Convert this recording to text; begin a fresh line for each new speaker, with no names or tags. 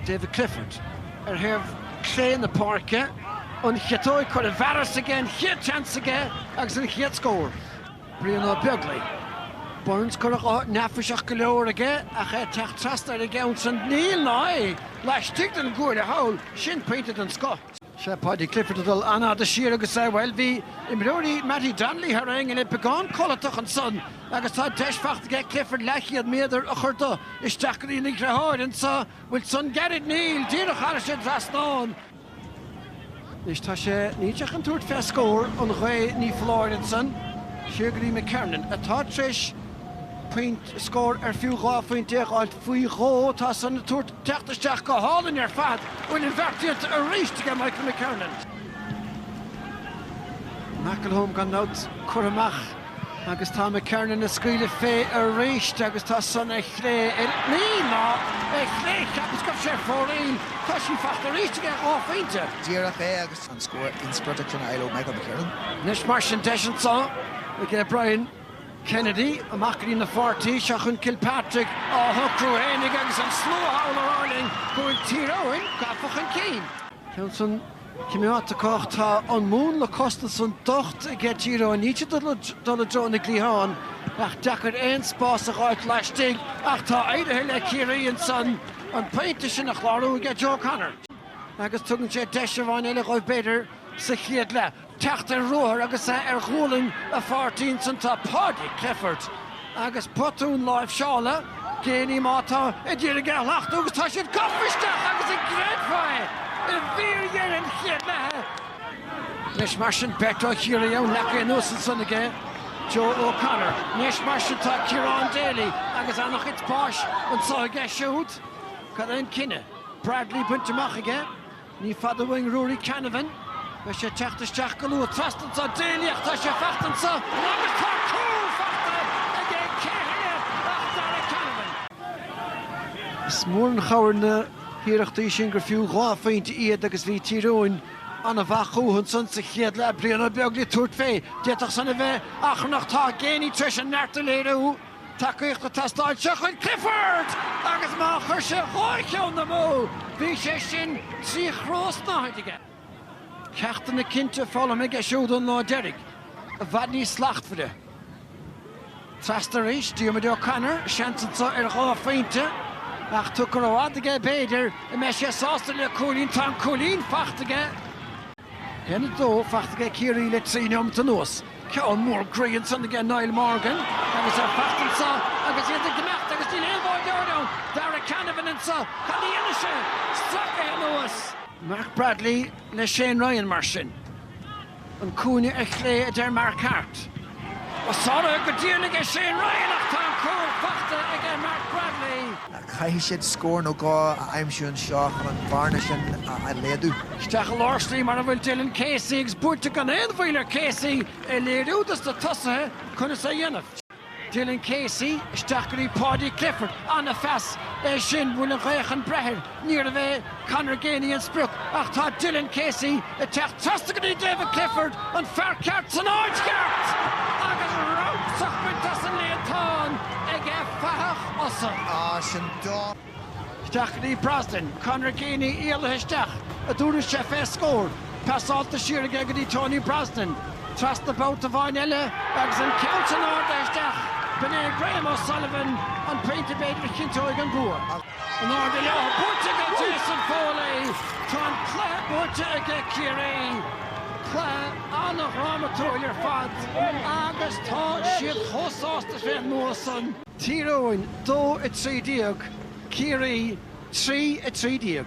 David Clifford, ar thaobh chlé na páirce, an chiotóg curtha i bhfearas aige an chéad tseans aige agus an chéad scór? Brian Ó Beaglaoi, Burns, cur chuige neafaiseach go leor aige ach é ag teacht trasna ar an gceann san, níl, ná é laistigh den gcúil a shaoil, sin pointe den scoth. Paudie Clifford ag dul an-fhada siar agus, bhuel, bhí imreoirí Mattie Donnelly thar aon ní beagán codlatach ansan agus tá deis faighte aige Clifford leathchéad méadar a chur de isteach go dtí an ngabhálaí anseo, bhfuil san curtha, níl, díreach thar ais den trasnán. Anois tá sé in ndán tabhairt fé scór ón ghaoth ní foláir ansan siar go dtí McKernan atá tar éis scór ar fiú dhá phointe a fháilt faoi dhó tá san ag tabhairt teacht isteach go hálainn ar fad. Bhuel, an bheirt acu arís aige Michael McKernan. McElholm gan dabht curtha amach agus tá McKernan ag scaoileadh fé arís agus tá san ar chlé ar aon lá ar chlé. Cheapas go raibh sé ar fóraoil. Tá sin fachta arís aige, dhá phointe. Díreach é agus an scór inspioráideach san le fáil ó Michael McKernan. Anois mar sin deis anso aige Brian. Kennedy, amach go dtí a pháirtí, seo chugainn Kilpatrick á shocrú fhéinig agus an slua thall ag rá linn go bhfuil Tír Eoghain gafa chun cinn. Ceann san cineál tacaíocht, tá an múnla cosanta san docht aige Tír Eoghain, níl siad ag dul i dtreo na gcliathán ach deacair aon spás a dh'fháilt laistigh ach tá éirithe le Ciarraí ansan an bpointe sin a chlárú aige Joe O'Connor agus tugann sé deis amháin eile dhóibh b'fhéidir sa chéad leath. teacht ar ruathar agus é ar ghualainn a pháirtí ansan tá Paudie Clifford agus botún láimhseála Geaney atá ag iarraidh é a shlachtú agus tá siad gafa isteach agus an gcreidfeá é i bhfíordheireadh an chéad leatha Anois mar sin beirt ó Chiarraí ann leagtha anuas ansan aige Joe O Connor. Anois mar sin tá Ciarán Daly agus ana-chuid spáis anso aige siúd. Cad é an cinneadh? Bradley bainte amach aige. Ní fada uainn Ruairí Canavan. Beidh sé ag teacht isteach go luath trasna anseo. Déiseach, tá sé faighte anseo agus tá cúl faighte aige! Cé heile ach Darragh Canavan. Is mór an chabhair na hiarrachtaí sin gur fiú dhá phointe iad agus bhí Tír Eoghain ana-mhaith chucu ansan sa chéad leath. Brian Ó Beaglaoich ag tabhairt fé. D'fhéadfadh san a bheith achrannach. Tá Geaney tar éis an neart a léiriú. tacaíochta ag teastáil, seo chugainn Clifford agus má chuir sé dhá cheann amú, bhí sé sin trí chró snáthaide aige. Ceachtanna cinnte foghlamtha aige siúd ón lá deiridh, i bhfad níos slachtmhaire. Trasna arís, Diarmuid O'Connor, seans anseo ar dhá phointe, ach tógtha rófhada aige b'fhéidir go mbeidh sé sásta le cúilín, tá an cúilín faighte aige. 1, 2 fachta aige Ciarraí le trí neomat anuas. Ceann mór groí ansan aige Niall Morgan agus ar fachta anso agus iad ag imeacht agus níl aon bháireoir ann! Darragh Canavan anso, cad a dhéanfaidh sé? Stracaithe anuas. Mark Bradley le Shane Ryan mar sin. An cúinne ar chlé a deir Mark Harte. Ba chara go dearnaigh é Shane Ryan ach tá an cúl fachta aige Mark Bradley. Caithfidh siad scór nó dhó a aimsiú anseo chun an bhearna sin a laghdú. Isteach i lár slí mar a bhfuil Dylan Casey agus buaite gan aon mhoill ar Casey ag léiriú dos na tosaithe conas é a dhéanamh. Dylan Casey, isteach go dtí Paudie Clifford. An-phas é sin, bhfuil an ghaoth chun breith air. Níorbh é Conor Geaney an sprioc ach tá Dylan Casey ag teacht trasna go dtí David Clifford, an fear ceart san áit cheart! Agus croitheadh bainte as an líontán aige fathach Fhosa. Isteach go dtí Brosnan, Conor Geaney éalaithe isteach, an dtabharfaidh sé fé scór. Passáilte siar aige go dtí Tony Brosnan. Trasna babhta amháin eile agus an ceann san ardaithe isteach, b'in é Graham O'Sullivan, an pointe b'fhéidir a chinnteoidh an bua. In airde leo, buaite ag Jason Foley. Tá an cluiche buaite ag Ciarraí. Cluiche an-dhrámatúil ar fad agus tá siad chomh sásta fén mbua san. Tír Eoghain 2, 13 Ciarraí 3, 13.